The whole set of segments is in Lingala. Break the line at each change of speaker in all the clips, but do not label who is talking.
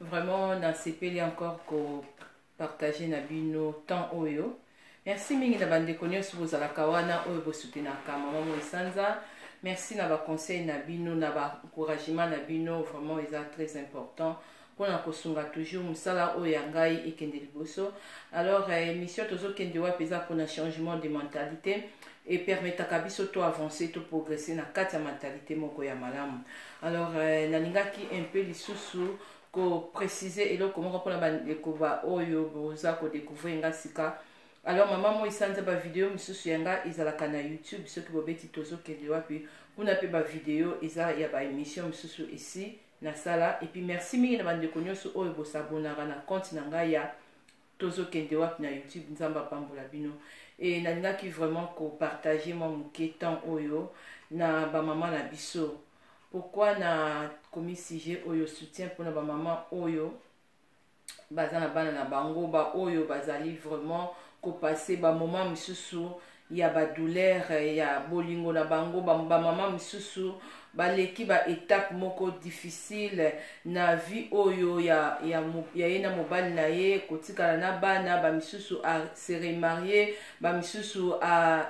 Vraiment nasepeli encore ko partager na bino temps oyo. Merci mingi na bandeko nyonso bozalaka wana oyo bosutenaka mama moi sanza. Merci na ba conseil na bino na ba encouragement na bino vraiment eza très important mpona kosunga toujours mosala oyo ya ngai ekende liboso alors eh, émission tozokende wapi eza mpona changement de mentalité e permetaka biso to avancer to progresser na kati ya mentalite moko ya malamu alors euh, nalingaki un peu lisusu ko préciser eloko moko mpona bandeko ba oyo boza ko découvrir nga sika alors mama moi sanza bavideo mosusu ya nga ezalaka na youtube soki bobeti tozokende wapi kuna mpe bavideo eza ya baémission mosusu esi nasala epuis merci mingi na bandeko nyonso oyo bosabonaka na compte na ngai ya tozo kende wapi na youtube nzambe apambola bino et nalingaki vraiment ko partager mwa moke temps oyo na ba maman na biso pourquoi na komi sujet oyo soutien mpona ba maman oyo baza na bana na bango baoyo bazali vraiment kopase bamoment misusu ya ba douleur ya bolingo na bango ba, ba mama misusu baleki ba etape moko difficile na vie oyo ya, ya, ya ye na mobali na ye kotikala na bana bamisusu se remarie bamisusu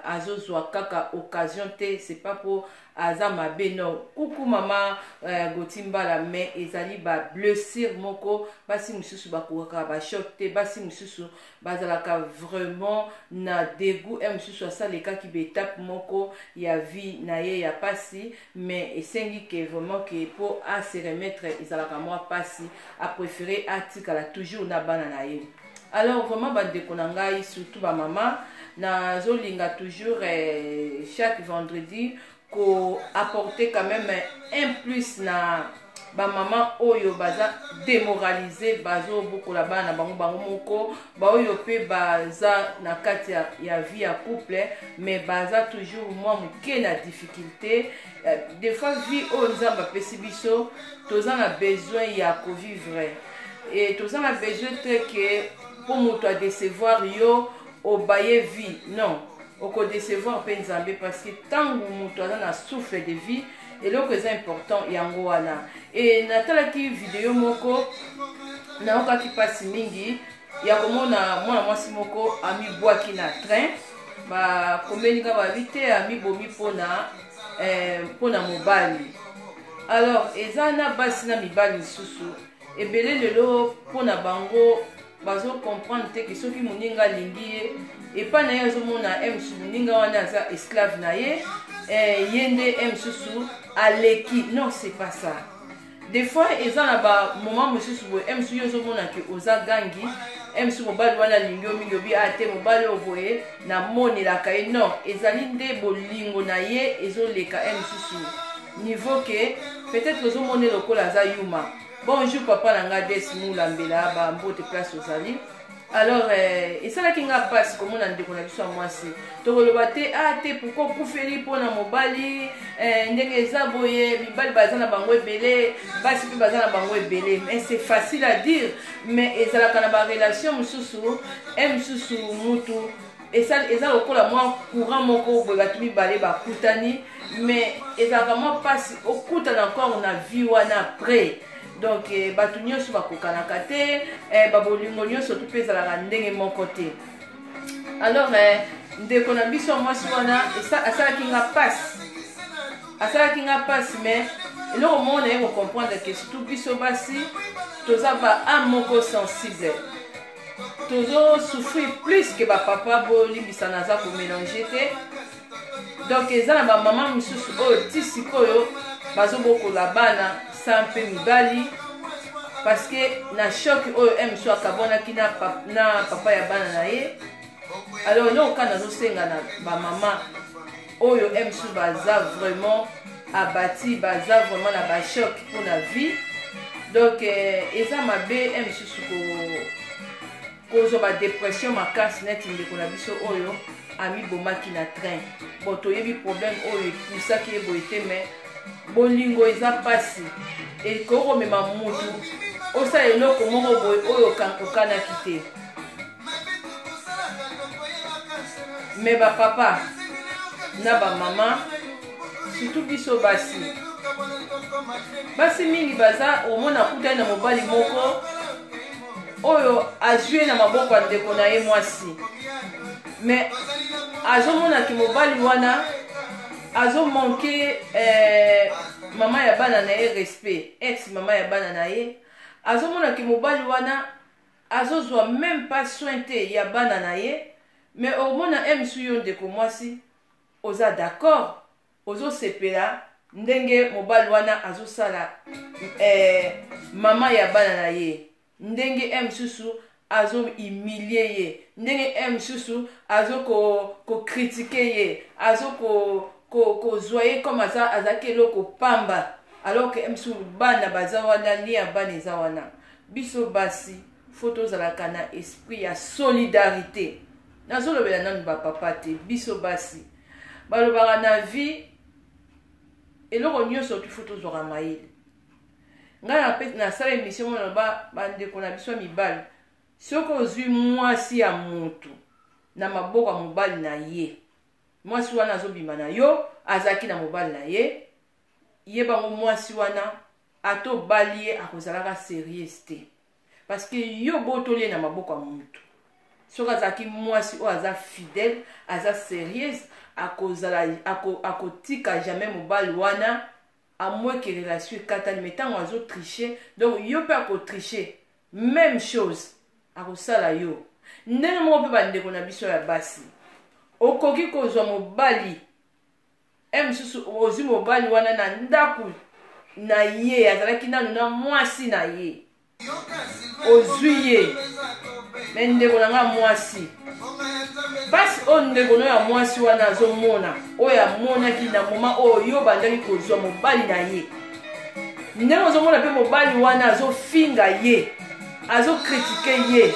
azozwa kaka occasion te c'est pas po aza mabe non kuku mama eh, goti mbala mais ezali ba blessure moko basi mosusu bakokaka ba choc te basi mosusu bazalaka vraiment na degout ya mosusu asalekaki baetape moko ya vie na ye ya pasi mais esengi ke vraiment ke mpo ase remettre ezalaka mwa pasi aprefere atikala toujours na bana na ye alors vraiment bandeko na ngai surtout bamama nazolinga toujours eh, chaque vendredi ko apporter quand même un plus na bamama oyo baza demoralise bazobokola bana na bango bango moko baoyo mpe baza na kati ya, ya vie ya couple mais baza toujours mwa moke na difficulté euh, des fois vie oyo nzambe apesi biso toza na besoin ya kovivre e toza na besoin te ke mpo moto adecevoir yo obaye vie non okodecevoir mpe nzambe parce que ntango moto aza na souffle de vie eloko eza important yango wana e natalaki video moko nayokaki mpasi mingi ya komona mwana mwasi moko amibwaki na train bakomeli nga babi te amibomi mpona eh, mpona mobali alors eza na basi na mibali lisusu ebele lelo mpona bango bazo comprendre te ke soki moninga alingi ye epai na ye azomona ye mosusu moninga wana aza esclave na ye eh, ye nde ye mosusu aleki non c'est pas ça des fois eza na bamoment mosusu boye ye mosusu yo ozomona ke oza gangi ye mosusu mobali wana alingi yo mingi obi a ah, te mobali oyo boye namonelaka ye non ezali nde bolingo na ye ezoleka ye mosusu niveau ke peut-être ozomonela lokola aza yuma Bonjour papa na nga Des Moula Mbela ba mbote place ozali alors eh, esalaki nga mpasi komona ndeko na biso ya mwasi tokoloba te a ah, te pourkui okufeli mpo na mobali eh, ndenge eza boye mibali baza na bango ebele basi mpe baza na bango ebele mais c'est facile à dire mais ezalaka na barelation mosusu e mosusu mutu esali eza lokola mwa courant moko boye bato mibale bakutani mais ezalaka mwa mpasi okutana encore na vie wana après donc eh, bato nyonso bakokanaka te eh, babolingo nyonso tu mpe ezalaka ndenge moko te alors eh, ndeko na biso ya mwasi wana asalaki nga mpasi asalaki nga mpasi mais eloko moko naye kocomprendre ke surtout biso basi toza ba ame moko sensible tozo souffrir plus que bapapa bolimbisa naza komélange te donc eza na bamama mosusu oyo ti sikoyo bazobokola bana sa mpe mibali parce que na choc oyo msu akabwanaki na, pa, na papa ya bana na ye alors eloko kaka nazosenga na bamama oyo msu baza vraiment abati baza vraiment na bachoc mpo na vie donc eh, eza mabe e mosusu kozwa badepression makasi neti ndeko na biso oyo amibomaki na train bon toyebi problème oyo epusaki ye boye te mai bolingo eza mpasi ekoki komema motu osala eloko moko boye oyo okanaki te mais ba papa na ba mama surtout biso basi basi mingi baza omona akutani na mobali moko oyo azwi ye na maboko ya ndeko na ye mwasi mais azomonaki mobali wana azomanke eh, mama ya bana na ye respect ex mama ya bana na ye azomonaki mobali wana azo zua meme pas soin te ya bana na ye mais omona ems yo ndeko mwasi oza d'accord ozo sepela ndenge mobali wana azo sala eh, mama ya bana na ye ndenge e mosusu azo humilie ye ndenge e mosusu azo kokritike ko ye azo kozwa ko, ko ye comme aza azalaki eloko pamba alors ke e mosusu bana baza wana lia bana eza wana biso basi faut tozalaka na esprit ya solidarite nazolobela nanu bapapa te biso basi balobaka na vie eloko nyonso tufu tozwaka mayele ngai nasala emission mona loba bandeko na biso ya mibali soki ozwi mwasi ya motu na maboko ya mobali na ye mwasi wana azobima na yo azalaki na mobali na ye ye bango mwasi wana ata obali ye akozalaka serieuse te parceke yo botoli ye na maboko ya motu soki azalaki mwasi oyo aza fidèle aza serieuse akozala akotika ako jamais mobali wana amweke relation ekatani me ntango azotriche donc yo mpe akotriche même chose akosala yo ndenge moko mpe bandeko na biso ya basi okoki kozwa mobali Heure mosusu ozwi mobali wana na ndako na ye, azalaki nanu na mwasi na ye, ozwi ye me ndeko na ngai mwasi mpasi oyo ndeko no ya mwasi wana azomona oyo amonaki na moma oyo yo obandaki kozwa mobali na ye ndenge ozomona mpe mobali wana azofinga ye azokritike ye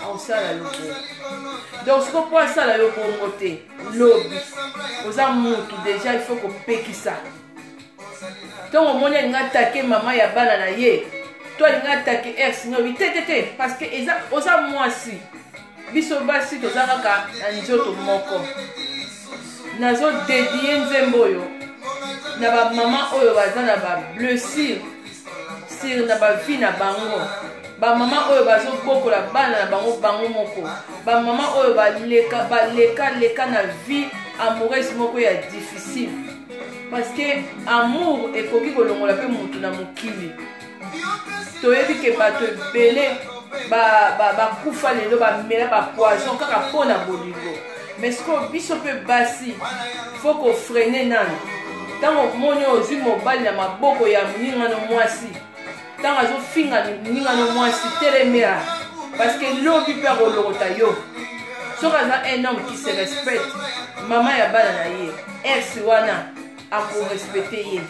akosala yo bongo donc siko mpo asala yo bongo te lobi oza mutu deja il faut kopekisa ntongo omoni alinga atake mama ya bana na ye to alinga atake ex na obi te te te parce que eza oza mwasi biso basi toza kaka na nzoto moko nazodedie nzembo oyo na bamama oyo baza na bablessure sur na bavie na bango bamama oyo bazobokola bana na bango bango moko bamama oyo baleka baleka leka na vie amoureuse moko ya difficile parce que amour ekoki kolongola mpe motu na mokili toyebi ke bato ebele bakufa ba, ba lelo bamela bapoison kaka mpo na bolingo mais sikoyo biso mpe basi fo kofrene nano ntango omoni oyo ozwi mobali na maboko ya moningano mwasi ntango azofinga moningano mwasi telemela parceke lobi mpe akolokota yo soki aza un homme qui se respecte mama ya bana na ye ex wana akorespecte ye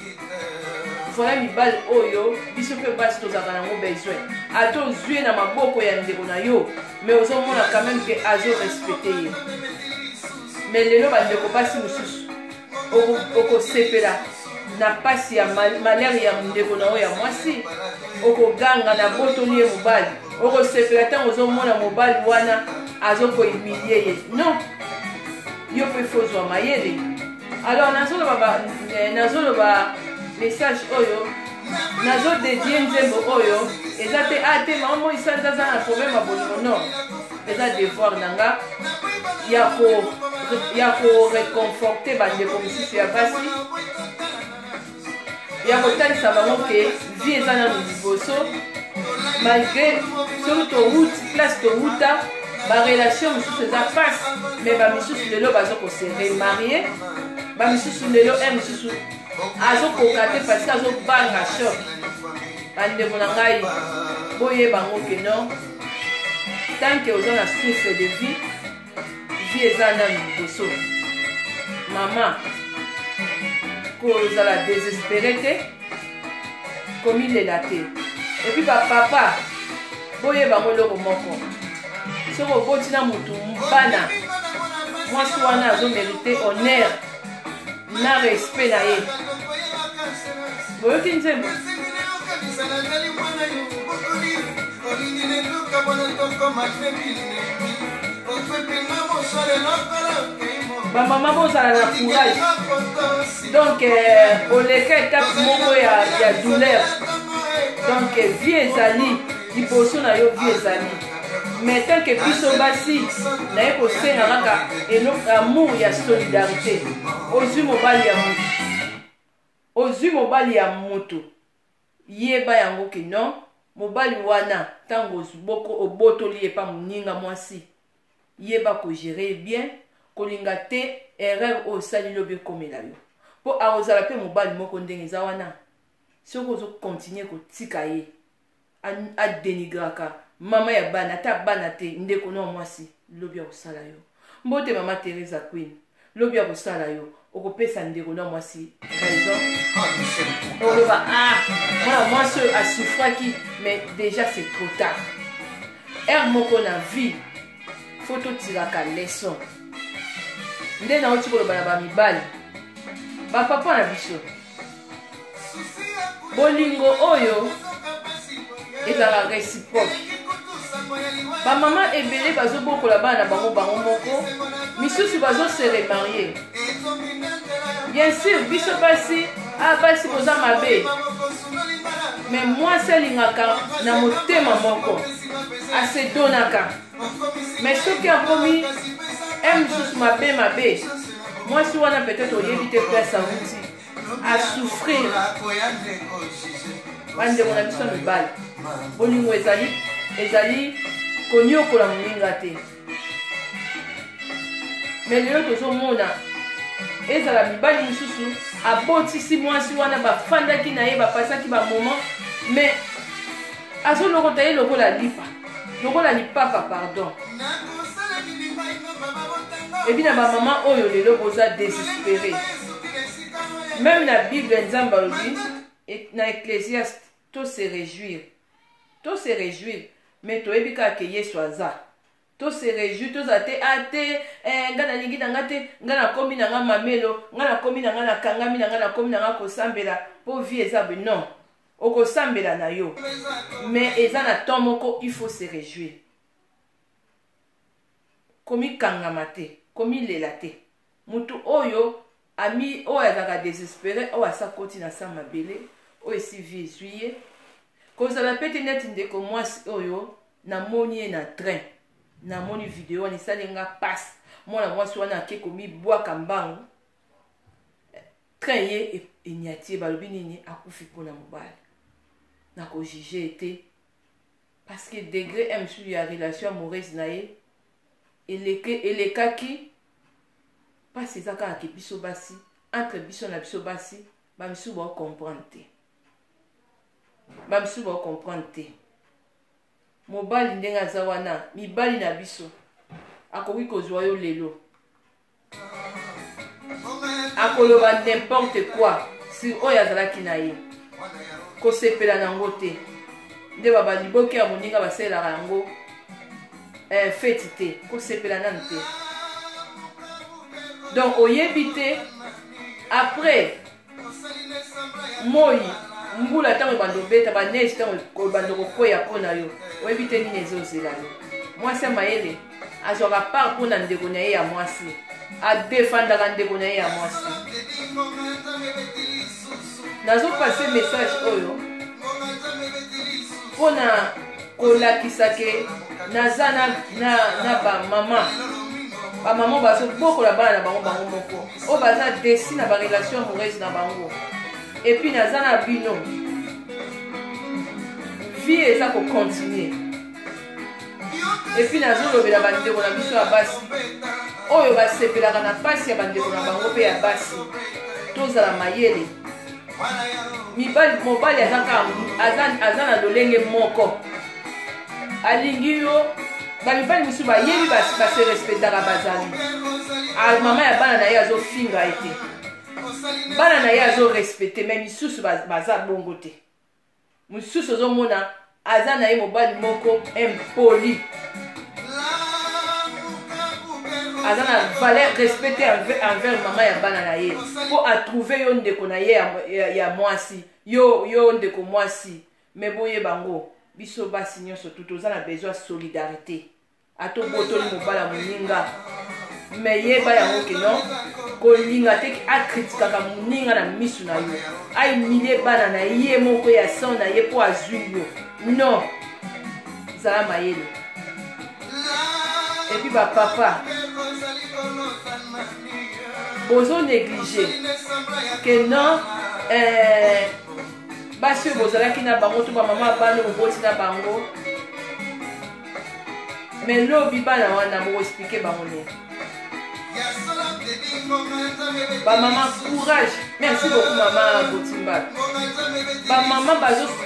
voilà mibali oyo biso mpe basi tozalaka nango besoin ata ozwi ye na maboko ya ndeko na yo mais ozomona quand même ke azorespecte ye mais lelo bandeko basi mosusu okosepela na mpasi ya malere ya ndeko na yo ya mwasi okoganga na botoli ye mobali okosepela ntango ozomona mobali wana azokoimilie ye non yo mpe fozwa mayele alors nazoloba eh, nazoloba message oyo nazodedie nzembo oyo eza te a ah, te mama moi sanza aza na problème ya bolingo non eza devoir na nga ya koreconforte bandeko mosusu ya basi ya kotalisa bango ke vie eza nano liboso malgré soki towuti place towuta barelation mosusu eza pasi me bamisusu lelo baza kose remarie bamisusu lelo e mosusu azokoka te parce azobanga shok bandeko na ngai boyeba yango ke non tanke oza na source de vie vie eza nanu liboso mama kozala desespere te komilela te epuis bapapa boyeba yango eloko moko soki oboti na motu bana mwasi wana azomerite honneur na respect na ye boyoki nzembo bamama bozala na courage donc euh, oleka etape moko ya douleur donc vie ezali liboso na yo vie ezali mais tant que biso basi naye kosenga kaka eloko amour ya solidarité ozwi mobali ya mutu ozwi mobali ya mutu yeba yango ke non mobali wana ntango obotoli ye mpa moninga mwasi yeba kogere ye bien kolinga te erreur oyo osali lobi ekomela yo mpo akozala mpe mobali moko ndenge eza wana soki ozokontinue kotika ye adenigraka mama ya bana ata bana te ndeko na mwasi lobi akosala yo mbote mama teresa queen lobi akosala yo okopesa ndeko na mwasi raison oloba ah mwana mwasi oyo asufraki mais déjà c'est trop tard heure moko na vie fo totilaka leson nde nauti koloba na bamibali bapapa na biso bolingo oyo ezala reciproque bamama ebele bazobokola bana na bango bango moko misusu bazose remarie bien sûr biso basi a ah, basi boza mabe me mwasi alingaka na motema moko asedonaka me soki akomi m mosusu mabe mabe mwasi wana peut-être oyebi te place auti a souffrir bandeko na biso ya mibali bolingo ezali ezali koniokola moninga te me lelo tozomona ezala mibali mosusu abotisi mwasi wana bafandaki na ye bapasaki bamoment me azolokota ye lokola lipa lokola lipapa pardon ebi na bamama oyo lelo boza desespere meme na bible nzambe alobi na ecclesiaste to se réjouir to se réjouir mais toyebi kaka ke yesu aza to se réjouir tozala te a ah, te eh, ngai nalingi na ngai te ngai nakomi na ngai mamelo ngai nakomi na ngai nakangami na ngai nakomi na ngai kosambela mpo vie eza non Okosambela na yo. Mais eza na temps moko il faut se rejouir. Komikangama te, komilela te. Mutu oyo ami oyo azalaka desespere oyo asa koti na sa mabele oyo esi vie ezwi ye kozala mpe te neti ndeko mwasi oyo namoni ye na train namoni video wana esali nga mpasi mwana mwasi wana ake komibwaka mbangu Train ye enyati ye balobi nini akufi pona mobali. Na ko juger ye te parce que degre un mosusu ya relation amoureuse na ye eleke elekaki pasi eza kaka ke biso basi entre biso na biso basi ba misusu ba comprendre te. Ba misusu ba comprendre te. Mobali ndenge aza wana mibali na biso akoki kozwa yo lelo akoloba n'importe quoi sur oyo azalaki na ye kosepela na yango te nde babaliboki ya moninga basalelaka yango eh, feti te kosepela nanu te donc oyebi te après moi mbula ntango ebanda obeta baneige ntango ebanda kokwea mpo na yo oyebi te nini ezozela yo mwasi ya mayele azwaka part mpo na ndeko na ye ya mwasi adefandaka ndeko na ye ya mwasi nazopase message oyo mpo na kolakisa ke naza na, na, na bamama bamama bazobokola bana na bango bango moko oyo baza desi na barelation amoureuse na bango epuis naza na bino vie eza kocontinue epuis nazolobela bandeko na biso ya basi oyo basepelaka na mpasi ya bandeko na bango mpe ya basi tozala mayele mibali mobali aza kaka aza, aza na lolenge moko alingi yo bamibali mosusu bayebi base respectaka bazali mama ya bana na ye azofinga ye te bana na ye azorespecte mai misusu baza bongo te mosusu ozomona aza na ye mobali moko impoli aza na valeur respect te envers mama ya bana na ye mpo atrouve yo ndeko na ye ya mwasi yo yo ndeko mwasi me boye bango biso basi nyonso tu toza na besoin solidarité ata obotoli mobali ya moninga me yeba yango keno kolinga te akritikaka moninga na miso na yo aimilie bana na ye moko ya san na ye mpo azwi yo non zala mayele epuis bapapa bozo néglige ke non eh, basi oyo bozalaki na bango to bamama bana oboti na bango mais lobi bana wana boko explike bango nini bamama courage merci beaucoup mama botimbal bamama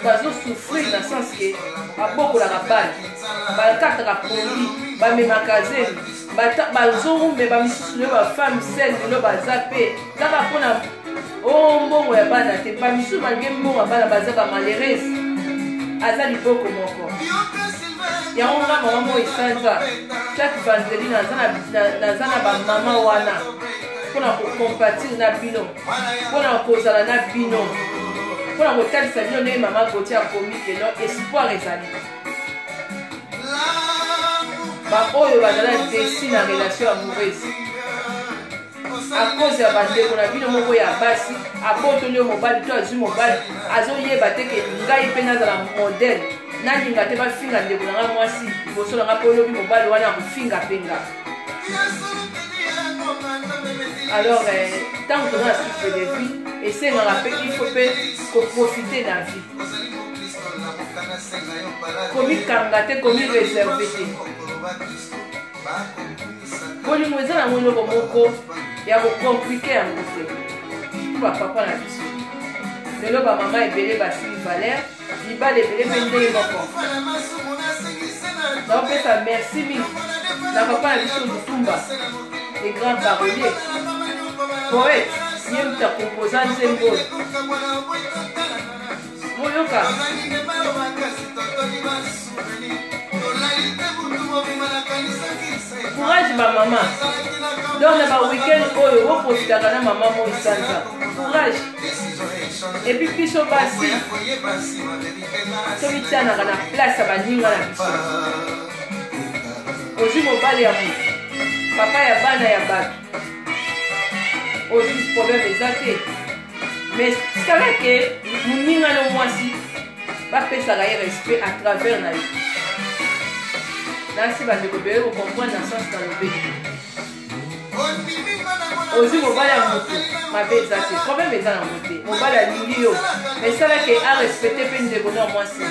bazosouffrir na sens ke babokolaka bana bakataka poli bamemaka zemi bazowumbe bamisusu lelo bafemme sel lelo baza mpe kaka mpo na o oh, mbongo ya bana te bamisusu malgre mbongo ya bana baza bamalerese aza liboko moko yango nga mama moi sanza chaque vendredi naza na bamama wana mpo na kocompatire na bino mpo na kozala na bino mpo na kotalisa bino ndenge mama goti akomi lelo espoir ezali baoyo bazala desi na relation amoureuse a cause ya bandeko na bino moko ya basi abotoli yo mobali to azwi mobali azoyeba te ke ngai mpe nazala modele nalinga te bafinga ndeko na ngai mwasi liboso na ngai mpo olobi mobali wana akofinga mpe nga alors ntango eh, toza na souffle de vie esengaka mpe ifo mpe koprofite na vie komikanga te komireserve te bolingo eza nango eloko moko ya kocomplike yango te mpo bapapa na biso lelo bamama ebele basili valeur libala ebele mpe ndenge moko naopesa merci mingi na papa na biso lutumba le grand parolier poète ye moto akompoza nzembo courage ba mama donc na ba weekend oyo boprofitaka na mama moi sanza courage epuis biso basi soki tianaka na place ya baninga na biso ozwi mobali ya moto papa ya bana ya bato ozwi problème eza te mais tikala ke moninga no mwasi bapesaka ye respect à travers na ye nasi bandeko beye kocomprendre na sens na lobe ozwi mobali ya motu mabe eza te problème eza nango te mobali alingi yo mais esala ke arespecte mpe ndeko na mwasi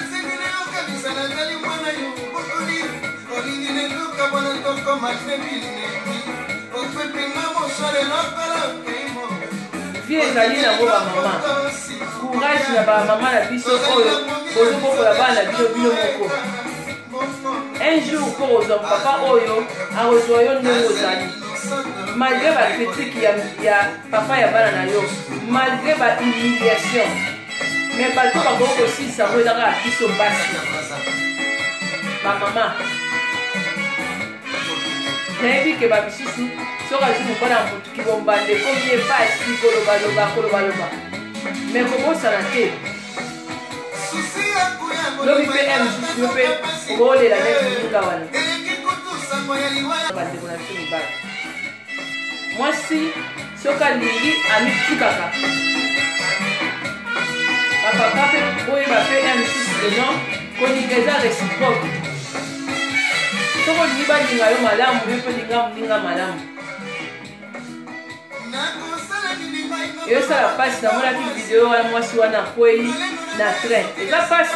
vie ezali nango bamama courage na bamama na biso oyo bozobokola bana na bino bino moko un jour mpo ozwa papa oyo akozwa yo ndenge ozali malgré bakritike ya papa ya bana na yo malgré bahumiliation me bato bakoki kosilisa yango eza kaka biso basi bamama nayebi ke bamisusu soki azwi mobana ya motuki bombanda ekomi ye pasi kolobaloba kolobaloba me kobosana te lobi mpe ya mosusu yo mpe okolela neti moninga wana bandeko na biso mibali mwasi soki alingi amitikaka bapapa mpe boyeba mpe ya misusu deno kolinga eza reciproque soki olingi balinga yo malamu yo mpe olinga moninga malamu eyosala mpasi namonaki video wana mwasi wana akwei na train eza mpasi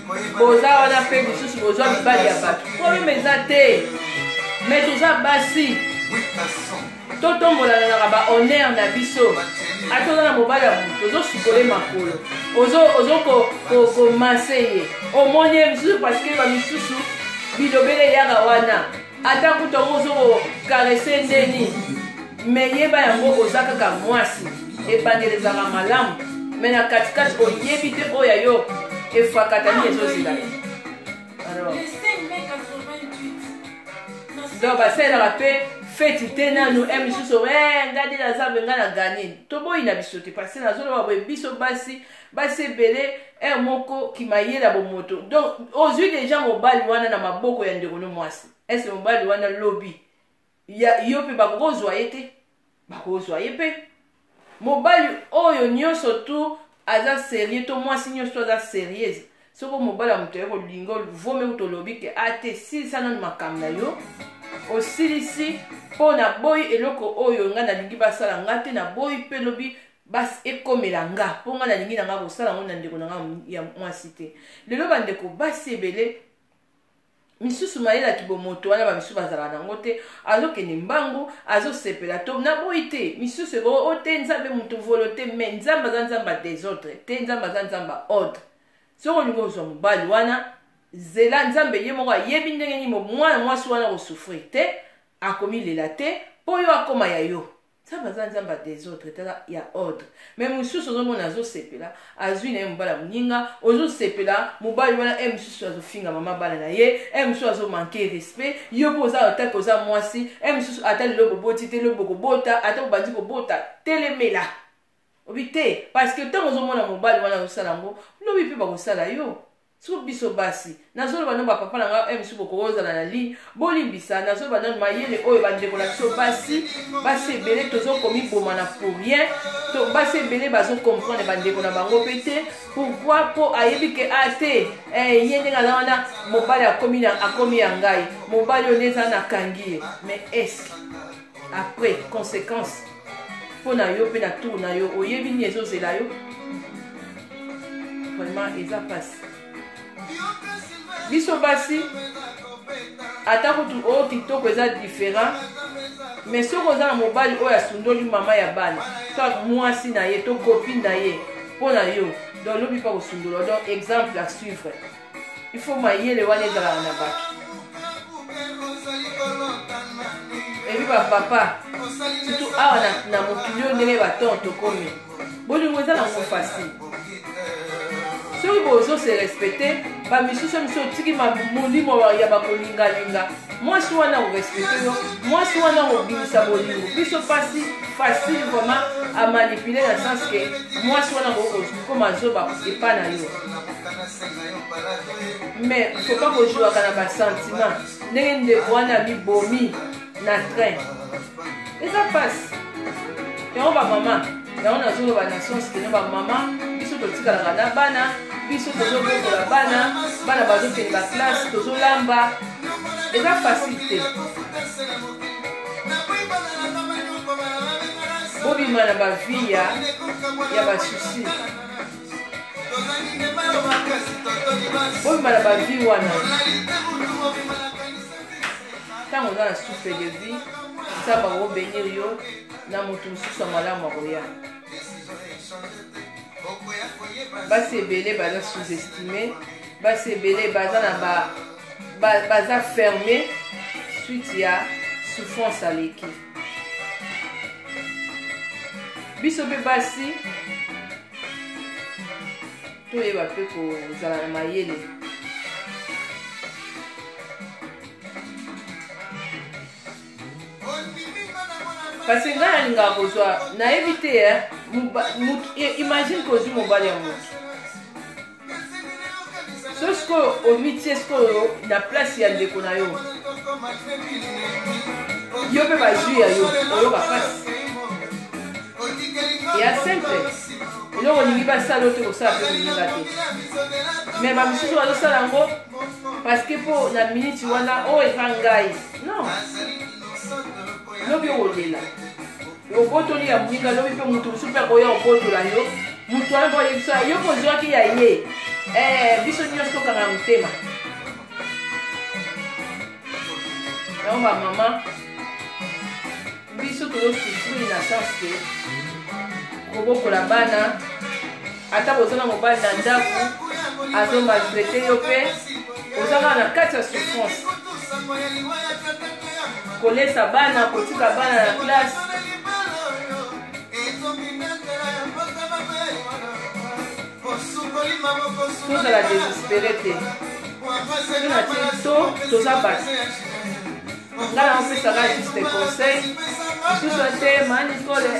boza wana mpe lisusu bozwa mibali ya bato probleme eza te me toza basi totombolananaka bahonneur na biso ata oza na mobali ya moto ozosukole makolo ozokomanse ye omoni ye misusu parceke bamisusu bilobele eyaka wana ata kutu yango ozo kokarese ndeni me yeba yango oza kaka mwasi ebandeli ezalaka malamu me na katikati oyebi te oyo ya yo efakata nini ezozela ye donc basalelaka mpe feti te nanu e misusu eh, ngai nde naza me ngai na gani toboyi na biso te parce nazoloba boye biso basi basi ebele heure moko kimayele ya bomoto donc ozwi deja mobali wana na maboko ya ndeko no mwasi ese mobali wana lobi ya yo mpe bakozwa ye te bakozwa ye mpe mobali oyo nyonso tu aza serieux to mwasi nyonso tu aza serieuse soko mobali ya moto yako linga vome kuta olobi ke a te silisa nano makambo na yo osilisi mpo naboyi eloko oyo ngai nalingi basala ngai te naboyi mpe lobi basi ekomela nga mpo ngai nalingi na ngai kosala yango na ndeko na ngai ya mwasi te lelo bandeko basi ebele misusu mayela kibomoto wana bamisusu bazalaka nango te azokende mbangu azosepela to naboyi te misusu eko o oh, te nzambe moto volo te me nzambe aza nzambe ya desordre te nzambe aza nzambe ya ordre soki olingi ozwa mobali wana zela nzambe ye moko ayebi ndenge nini mwana mwasi wana kosufrir te akomilela te mpo yo akoma ya yo Nzambe aza nzambe ya desordre tala ya ordre me mosusu ozomona azosepela azwi na ye mobali ya moninga ozosepela mobali wana e mosusu azofinga mama bana na ye e mosusu azomanke respect yo mpo oza otake oza mwasi e mosusu ata lelo boboti te lelo bokobota ata bobandi kobota telemela obi te parceke ntango ozomona mobali wana azosala yango lobi mpe bakosala yo Surtout biso basi. Nazoloba nanu ba papa na nga, heure mosusu bokoki ozala na ligne, bolimbisa, nazoloba nanu mayele oyo bandeko na biso basi, basi ebele tozo komiboma na pour rien, to basi ebele bazo comprendre bandeko na bango pe te, pourquoi po ayebi ke a te, eh, ye ndenge aza wana, mobali akomi na akomi ya ngai, mobali oyo nde eza nakangi ye, mais est-ce que après conséquence mpo na yo mpe na tour na yo oyebi nini ezozela yo vraiment eza mpasi biso basi ata kutu o oh, kitoko eza différent mais soki oza na mobali oyo asundoli mama ya bana to mwasi na ye to kopi na ye mpo na yo donc lobi mpe kosundola donc exemple à suivre il faut mayele wana ezalaka na bato ebi bapapa surtout awa na mokili oyo ndenge baton tokomi bolingo eza nango facile soki bozo se respecte bamisusu misu otiki molimo ya bakolingalinga mwasi wana korespecte yo mwasi wana kobimisa bolingo biso mpasi facile vraiment amanipule na sens ke mwasi wana kokoma zoba epa na yo mais faut pas kojouaka na basentiment ndenge ndeko wana mibomi na train eza mpasi yango bamama yango nazoloba na sens keno bamama biso totikalaka na bana biso tozobokola bana bana bazokende baklasse tozolamba eza facile te bobima na bavie ya basusi oyebala bavi wana ntango oza na souffle de vie nzambe akobenir yo na moto mosusu ya malamu akoya basi ebele baza sous-estime basi ebele baza na ba, ba, baza ferme suite ya souffrance aleki biso mpe basi toyeba mpe kozala na mayele kasi ngai nalingaka kozwa nayebi te eh, eh, imagine kozwi mobali ya moto so sikoyo omitie sikoyo na place ya ndeko na yo yo mpe bazwi ya yo oyoka mpasi ya simple eloko olingi basala yo te kosala mpe kolinga te me bamosusu bazosala yango parceke mpo na miniti wana oyo oh, eza ngai non lobi okolela obotoli ya moninga lobi mpe moto mosusu mpe akoya obotola yo moto wana mpo ayebisa yo kozwaki ya ye eh, biso nyonso tokanga motema yango bamama biso tozosufrire na sens ke kobokola bana ata boza na mobali na ndako azo maltraite yo mpe oza kaka na kati ya souffrance kolesa bana kotika bana na classe tozala desespere te tozala te to toza basi nga na pesa ka juste conseil lisusu ete ma nicole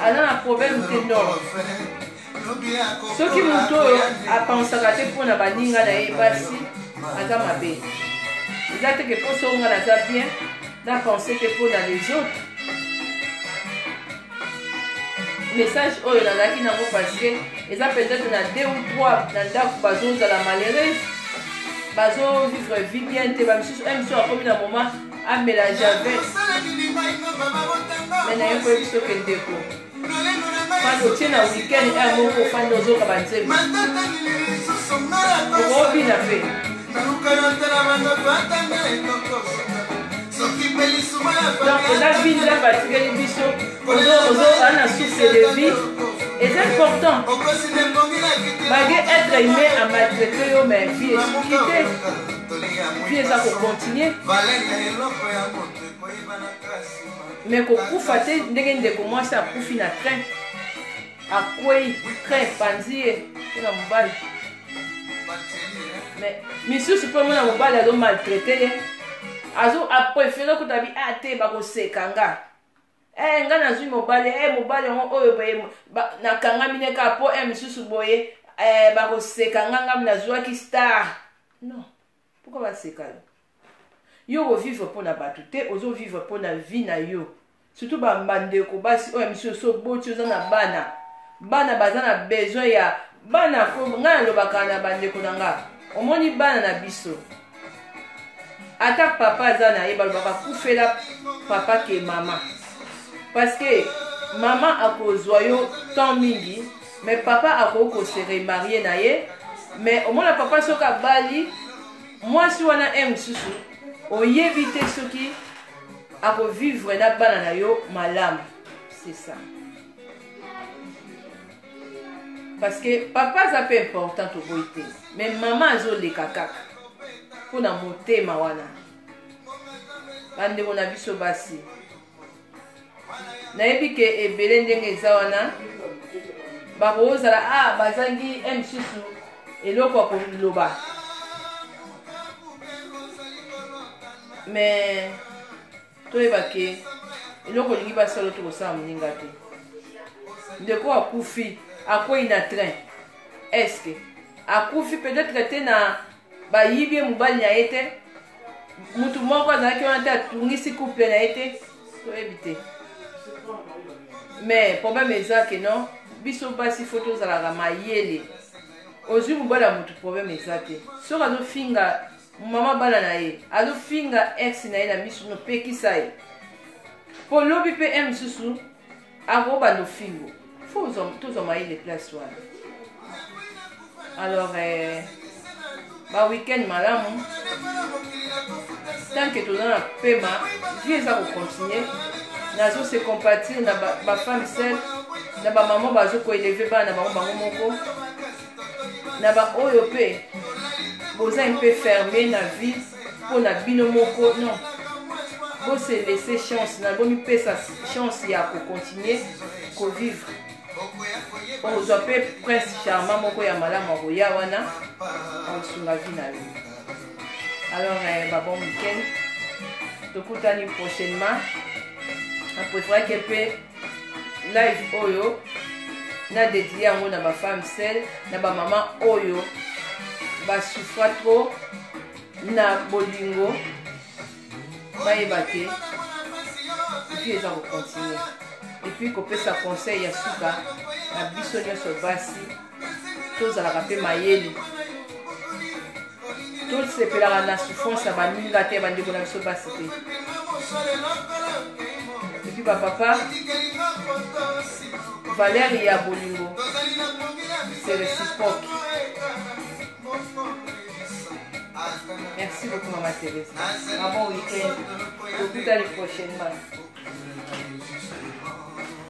aza na problème te non soki moto oyo apansaka te mpo na baninga na ye basi aza mabe eza teke mposo nga naza bien na pense te mpo na les autres message oyo nazalaki nango parceke eza peut-être na deux ou trois na ndako bazozala malheureuse bazovivre vie bien te bamisusu eh, misusu akomi na moment amela javel me naye koyebi soki ndeko fani otie na weekend ere eh, moko fani ozoka banzembo okobina mpe eza vide na batikeli biso ana souffle de vie eza important malgré être humain a maltraite yo mais vie esuki te vie eza kocontinue me kokufa te ndenge ndeko mwasi akufi na train akwei train epanzi ye mpo na mobali mais misusu mpe omona mobali azo maltraite ye azo aprefere kuta bi a ah, te bakoseka nga e eh, nga nazwi mobali e mobali yango oyo boye nakangami ne kaka mpo e eh, misusu boye e bakoseka nga ngami nazwaki star non Pourquoi ba seka yo? Yo o vivre pona batu te, ozo vivre pona vie na yo. Surtout ba bandeko basi oyo misi oso boti oza na bana. Bana baza na besoin ya bana ko nga na lobaka na bandeko na nga. Omoni bana na biso. Ata papa aza na ye balobaka kufela papa ke mama. Parce que mama akozwa yo temps mingi mais papa akoki ko se remarier na ye mais omona papa soki abali mwasi wana e mosusu oyebi te soki akovivre na bana na yo malamu c'est ça parce que papa aza mpe important toboyi te mais mama azoleka kaka mpo na motema wana bandeko na biso basi nayebi ke ebele ndenge eza wana bakozala a ah, bazangi msusu eloko ya koloba me toyeba ke eloko olingi basala tokosala moninga te ndeko akufi akwei na train eske akufi peut-être te na bayibi ye mobali na ye te motu moko azalaki wana te atungisi couple na ye te toyebi te mais problème eza ke non biso basi fo tozalaka mayele ozwi mobali ya motu problème eza te soki azofinga mama bana na ye azofinga ex na ye na misu nopekisa ye mpo lobi mpe e mosusu akoba lofingo fo tozwa mayele place wana alors eh, ba week-end malamu tant que toza na pema vie eza kocontinue nazo se compatir na bafemme seule na bamama bazo koeleve bana na bango bango moko na baoyo mpe boza mpe ferme na vie mpo na bino moko non bose laisse chance na bomipesa chance ya kocontinue kovivre okozwa mpe prince charma moko ya malamu akoya wana akosunga vi na yo alors eh, babon weekend tokutani prochainement na preferaki mpe live oyo na dedie yango na bafemme sel na bamama oyo basufra trop na bolingo bayeba te vie eza kocontinue epuis kopesa conseil ya suka na biso nyonso basi tozalaka mpe mayele tosepelaka na souffrance ya baninga te bandeko na biso basi te epuis bapapa valeur ya bolingo c'est réciproque merci beaucoup mama therese un bon week-end tokutani prochainement